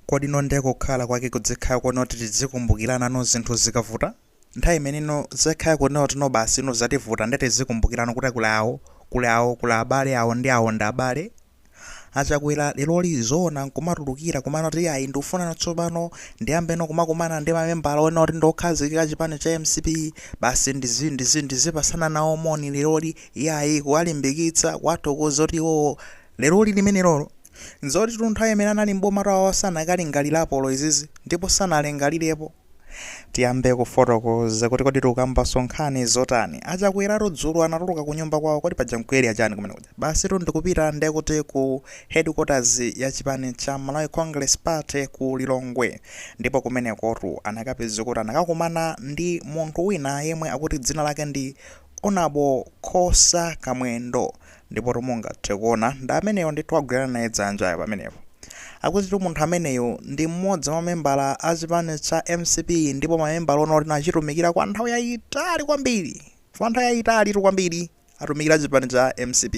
Kodi no nde kukhala kwake kudzikhala konoti tidzikumbukirana no zinthu zikavuta? Nthawi imene no zekhala konoti no basi no zativuta nde tidzikumbukirana kuti kuli awo, kuli awo, kuli abale awo ndi awo ndi abale. A Chakwera leroli zoona nkumatulukira kuma noti ayi ndikufuna no tsopano ndiyambe no kumakumana ndi mamembala onoti ndi okhazikika a chipani cha mcp basi ndizi ndizi ndizipatsana nawo moni leroli iyayi kuwalimbikitsa, kuwathokoza kuti iwowo leroli limenelolo. Nzoti tu nthawi imene anali m'bomatu awawa sanakalingalirepo olo izizi ndipo sanalingalirepo. Tiyambe kufotokoza kuti kodi tikukambanso nkhani zotani. A Chakweratu dzulo anatuluka kunyumba kwawo kodi paja nku area chani kumene kuja? Basitu ndikupita nde kuti ku headquarters ya chipani cha Malawi Congress Party ku Lilongwe ndipo kumenekotu anakapeza kuti anakakumana ndi munthu wina yemwe akuti dzina lake ndi honorable khosa kamwendo ndipotu mungathe kuona ndi ameneyo ndithu agwirana naye dzanjayo pamenepo akutitu munthu ameneyu ndi mmodzi mwa mamembala a chipani cha mcp ndipo mamembala onena kuti no achitumikira kwa nthawi yayitali kwambiri kwa nthawi yayitalitu kwambiri atumikira chipani cha mcp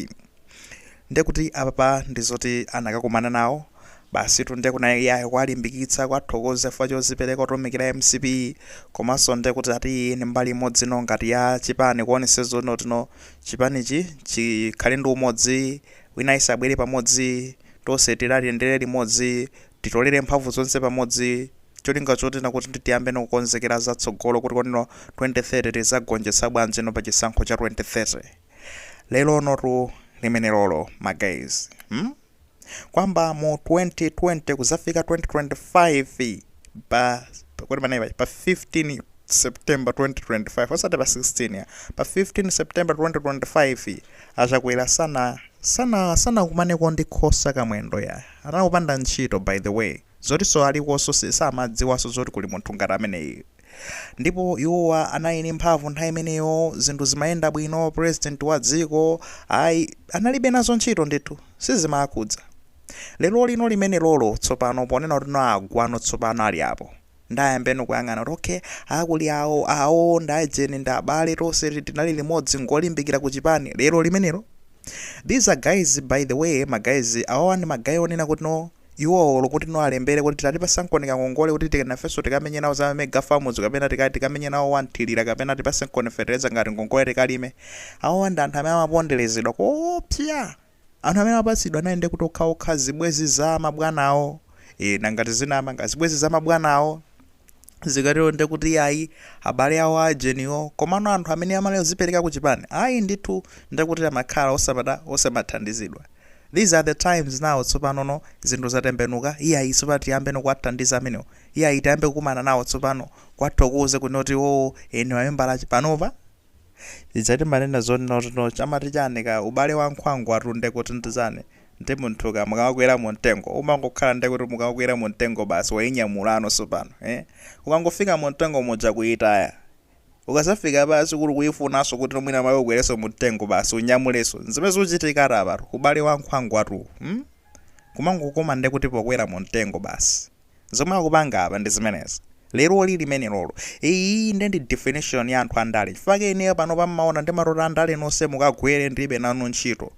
ndekuti apapa ndizoti anakakumana nawo basitu nde kuna iyayi kuwalimbikitsa kuwathokoza chifukwa chodzipereka kutumikira mcp komanso ndekuti ati iyi ni mbali imodzi no ngati ya chipani kuonetsetsa zonoti no chipanichi chikhale ndi umodzi wina yense abwere pamodzi tonse tiyendere limodzi titolere mphamvu zonse pamodzi cholinga choti nakuti ndi tiyambe no kukonzekera za tsogolo kuti kodi no 2030 tizagonjetsa bwanji no pa chisankho cha 2030 lerolotu limenelolo ma guys hmm? kuyamba mu 2020 kuzafika 2025 pa kodi panali pa 15 september 2025 osati pa 16 ya pa 15 september 2025 achakwera sana sana sanakumaneko ndi khosa kamwendo ya anali opanda ntchito by the way zotinso alikonso si- samadziwanso zoti kuli munthu ngati ameneyi Ndipo iwowa anali ndi mphamvu nthawi imeneyo, zinthu zimayenda bwino, president wa dziko, ayi, analibe nazo ntchito ndithu, sizimakhudza. Lero lino limenelolo tsopano ponena kuti no agwano tsopano ali apo. Nde ayambe no kuyang'ana kuti okay, a kuli awo, awo ndi aujeni ndi abale tonse ti- tinali limodzi ngolimbikira ku chipani. Lero limenelo. These are guys by the way, ma guys, awawa ndi ma guy onena kuti no Iwo olo kuti no alembele kuti tatipatsankoni kangongole kuti ti nafenso tikamenye nawo za mega farms kapena tikati tikamenye nawo wa mthirira kapena tipatseniko feteleza ngati ngongole tikalime awawa ndi anthu amene amapondelezedwa koopsya anthu amene amapatsidwa anali ndekuti okhaokha zibwezi za mabwana awo ee nanga tizinama nanga zibwezi za mabwana awo zikatero nde kuti ayi abale awo ajeniwo komano anthu amene amali ozipereka ku chipani ayi ndithu nde kuti amakhala osamata osamathandizidwa these are the times now tsopanono zinthu zatembenuka iyayi tsopano tiyambeno kuwathandiza amenewo iyayi tiyambe kukumana nawo tsopano kuwathokoze kunena kuti iwowo eni mamembala panopa Ija timanena zoti not no chamati chani ka ubale wa nkhwangwatu nde kuti ndi chani? Ndi munthu ka mukamakwera mu mtengo umangokhala nde kuti mukakwera mu mtengo basi wainyamulano sopano eh? Ukangofika mu mtengo muja kuitaya ukazafika pasi kuli kuifunanso kuti mwina mawa ukwerenso mu mtengo basi unyamulenso nzimene zikuchitikatu apatu ubale wa nkhwangwatu hmm? kumangokoma nde kuti pokwera mu mtengo basi. Zomwe akupanga apa ndi zimenezi. Leroli limenelolo. Iyiyi nde ndi definition ya anthu andale. Chifukwa chake ineyo panopa mmaona ndimatoti andale nonse mukagwere ndilibe nanu ntchito.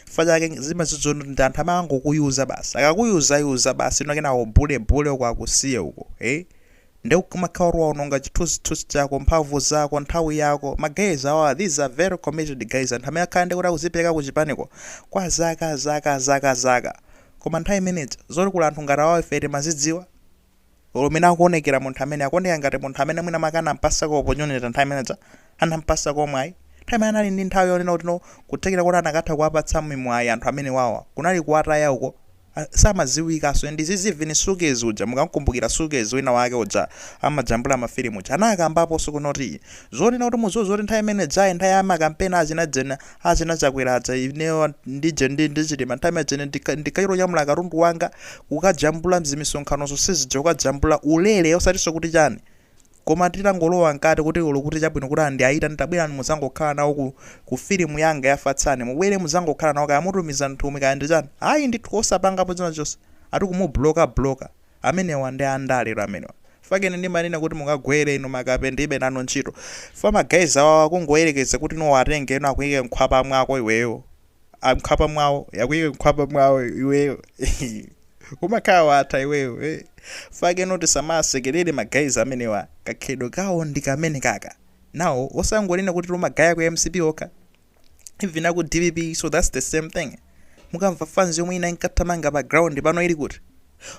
Chifukwa chake zimezizo ndi anthu amangokuyuza basi. Akakuyuzayuza basi ino kenako ubhulebhule uko akusiye uko. Eh? Nde umakhala kuti waononga chithunzithunzi chako, mphamvu zako, nthawi yako. Ma guys awawa these are very committed guys. Anthu amene akhala ndekuti akuzipereka ku chipaniko kwa zaka zaka zaka zaka. Koma nthawi imene ija, zoti kuli anthu ngati awawa ife timazidziwa? Olo mmene akuonekera munthu ameneyo, akuoneka ngati munthu amene mwina mwake anam'pasako opportunity nthawi imene ija, anam'pasako mwayi. Nthawi imene anali ndi nthawi yonena kuti no, kuthekera koti anakatha kuwapatsa mimwayi anthu amenewawa, kunali kuwataya uko. A, samadziwikanso. Ndi izizi even Sukez uja, mukam'kumbukira Sukez wina wake uja, amajambula mafilimu uja, anakambaponso kunoti, zonena kuti mudziwe zoti nthawi imene ija, nthawi ya makampeni achina dzina, Achina chakwera aja ineyo ndije ndi ndi chilima nthawi imene ija ine ndika- ndinkachitonyamula katundu wanga kukajambula mzimisonkhanozo sizija kukajambula ulere osatinso kuti chani koma titangolowa mkati kuti olo kuti chabwino kuti ndiwaitane tabwerani muzangokhala nawo ku, ku filimu yanga ya fatsani mubwere muzangokhala nawo kaya mutumiza nthumwi kaya ndi chani ayi ndithu osapangapo china chonse ati kumubloka bloka Amenewa ndi andaletu amenewa chifukwa chake ine ndimanena kuti mukagwere inu makape ndilibe nanu ntchito chifukwa ma guys awawa kungoyerekeza kuti no uwatenge no akuyike mkhwapa mwako iweyo mkhwapa mwawo akuyike mkhwapa mwawo iweyo hehehe umakhala watha iweyo chifukwa chake no tisamawasekelere ma guys amenewa kakhalidwe kawo ndikamenekaka nawo osangonena kuti ma guys a ku mcp okha even aku dpp so that's the same thing mukamva fans yomwe ina inkathamanga pa ground pano ili kuti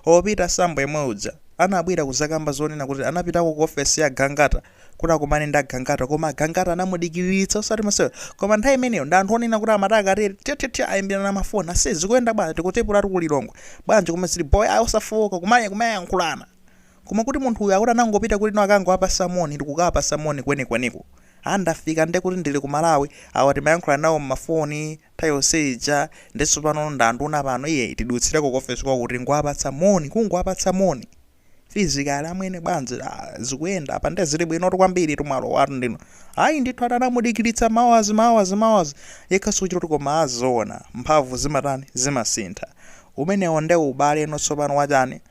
o peter sambo yemwe uja anabwera kuzakamba zonena kuti anapitako ku ofesi ya gangata kuti akumane ndi agangata koma agangata anamudikiriritsa osati masewera koma nthawi imeneyo ndi anthu onena kuti amati akatere tyatyatya ayimbirana na mafoni ase zikuyenda bwanji tikutepulatu ku lilongwe bwanji koma zili bho ayi osafowoka kumaya kumayankhulana Koma kuti munthu uyu akuti anangopita kuti akangowapasa moni ndikukawapasa moni kwenikweniko. Ah ndafika ndekuti ndili ku Malawi, awa timayankhulana nawo m'mafoni nthawi yonse ija nde tsopano ndi anduna pano iyeyi tidutsileko ku office kwawo kungowapatsa moni, kungowapatsa moni. Physically amwene bwanji ah zikuyenda apa nde zili bwinotu kwambiritu mwalowatu ndinu. Ayi ndithu ati anamudikilitsa ma hours ma hours ma hours yekhaso kuchita kuti koma ah zoona mphamvu zimatani zimasintha. Umenewo nde ubale eno tsopano wachani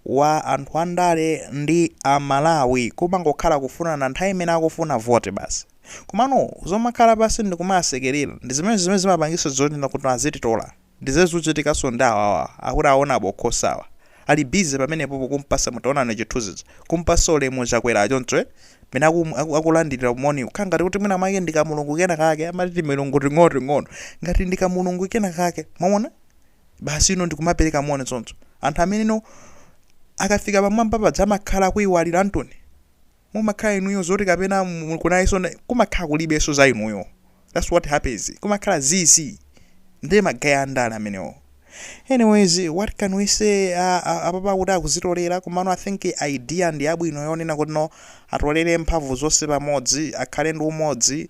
wa anthu andale ndi Amalawi kumangokhala kufunana nthawi imene akufuna vote basi. Komano zomakhala pansi ndikumasekelera ndi zimene zimene zimapangisa zonena kuti azititola. Ndi zimene zikuchitikanso ndi awawa akuti aona abokhosawa. Ali busy pamenepopo kumpasa mutaonani chithunzi chija. Kumpasa ulemu Chakwera choncho eh. Mmene aku aku akulandilira moni kukhala ngati kuti mwina mwake ndi kamulungu kena kake amati timilungu ting'onoting'ono. Ngati ndi kamulungu kena kake. Mwawona? basi ino ndikumapereka moni choncho anthu amene no akafika pamwamba paja amakhala akuiwaliratu mumakhala inuyo zoti kapena mu- kunayeso na- kumakhala kulibeso za inuyo that's what happens kumakhala zizi ndiye magaya andale amenewo anyways what can we say uh, uh, apapa kuti akuzitolera komano i think idea ndi yabwino yonena kuti no atolere mphamvu zonse pamodzi akhale ndi umodzi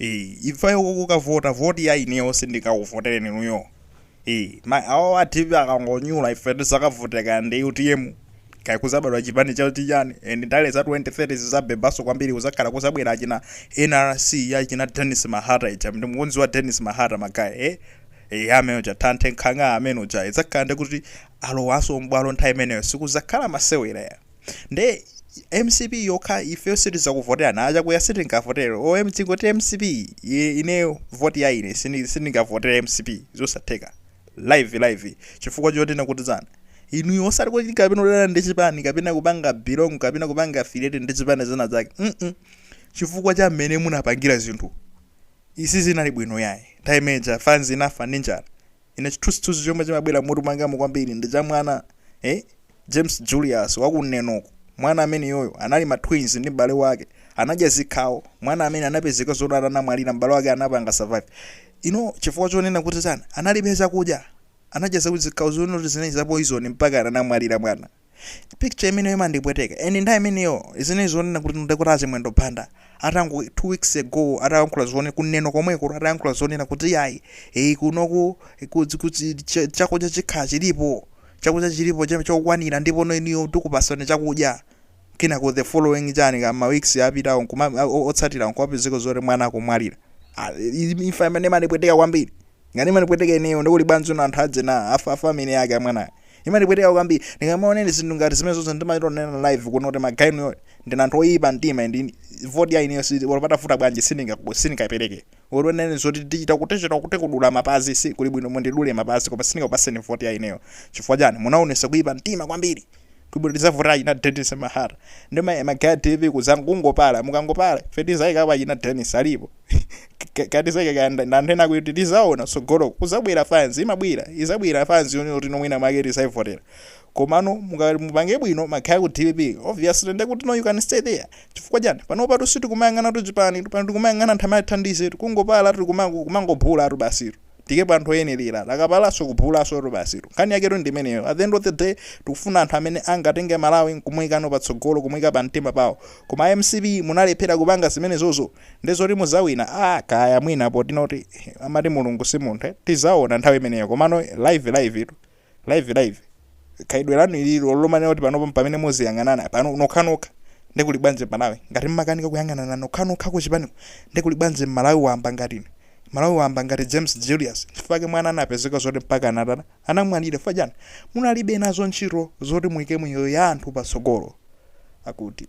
ee ifeyo kukavota voti yayi ineyo sindikakuvotereni inuyo ee ma awo a dpp akangonyula ife tizakavota kaya ndi utm kaya kuzabadwa chipani cha chichani and ndale za 2030 zizabebaso kwambiri kuzakhala kuzabwera achina nrc ya china dennis mahata ija ndi mukunziwa dennis mahata magaya eh eh amene uja tanthe nkhanga amene uja idzakhala ndi kuti alowanso m'bwalo nthawi imeneyo sikuzakhala masewera ya Nde mcp yokha ifeyo sitizakuvoterani achakuya sitingavotere om tingoti mcp i- ineyo voti ya ine sini- sindingavotere mcp zosatheka live live chifukwa chotena kuti chani inuyo osati kuti kapena udana ndi chipani kapena kupanga belong kapena kupanga affiliate ndi chipani china chake mm chifukwa cha mmene munapangira zinthu sizinali bwino yayi nthawi imeneja fanzi inafa ndi njala Ine chithunzithunzi chomwe chimabwera mmutu mwangamu kwambiri ndi cha mwana eh James Julius wa ku Neno uko. Mwana ameneyoyo anali ma twins ndi m'bale wake. Anadya zikhawo. Mwana amene anapezeka zoti anamwalira m'bale wake anapanga survive. You know chifukwa chonena kuti chani analibe chakudya. Anadya zakudya zikhawo zonena kuti zinali za poison mpaka anamwalira mwana. picture imeneyo imandipweteka and nthawi imeneyo zinali zonena kuti nde kuti a Chimwendo Banda atango two weeks ago atayankhula zone ku Neno komweko atayankhula zonena kuti yayi eh, kunoku kudzi- kudzi- cha- chakudya chikhala chilipo chakudya chilipo cha- chokwanira ndipo inuyo tikupasani chakudya kenako the following chani ka ma weeks apitawo nkuma- o- otsatira nkupezeka zoti mwana akumwalira Ah, i- imfa imene imandipweteka kwambiri Ngati imandipweteka ineyo ndekuti abanja ndi anthu ajani a family yake amwanayo. Imandipweteka kwambiri ndikamaona ine zinthu ngati zimenezozo ndimachita kunena live kuno kuti ma guy inu ndinu anthu oyipa mtima and vote ya ineyo olo patafuta bwanji sindingaku sindingayipeleke. Olo unene zoti tichita kuti tichita kuti kudula mapazi si kuli bwino mundidule mapazi koma sindingakupaseni vote ya ineyo chifukwa chani munaonesa kuyipa mtima kwambiri. Kuli bwino tizavotera achina Dennis Mahara ndi ma Magaya TV kuzangopala mukangopala ife tizaikapo achina Dennis alipo katizaika ka ndi anthu ena kuti tizaona tsogolo kuzabwera fans imabwera izabwera fans yoti no mwina mwake tizaivotera komano muka- mupange bwino Magaya ku DPP obviously nde kuti no you can stay there chifukwa chani pano patu sitikumayang'anatu chipani pano tikumayang'ana anthu amathandiza tikungopala tikumangobhulatu basitu tiikepo anthu oyenelera akapalaso kubhulasotu basitu nkhani yaketu ndimeneyo at the end of the day tikufuna anthu amene angatenge malawi nkumuikano patsogolo kumuika pamtima pawo koma a mcp munalephera kupanga zimenezozo nde zoti muzawina aah kaya mwina poti nkuti amati mulungu si munthu tizaona nthawi imeneyo komano live live tu live live khalidwe lanu ili lolumana kuti panopo mpamene muziyang'anana pano nokhanokha nde kuli bwanji malawi ngati mmakanika kuyang'anana nokhanokha kuchipaniko nde kuli bwanji mmalawi wamba ngati ine mmalawi wamba ngati james julius chifukwa chake mwana anapezeka zoti mpaka anatana anamwalira chifukwa chani munalibe nazo ntchito zoti muike miyoyo ya anthu patsogolo akuti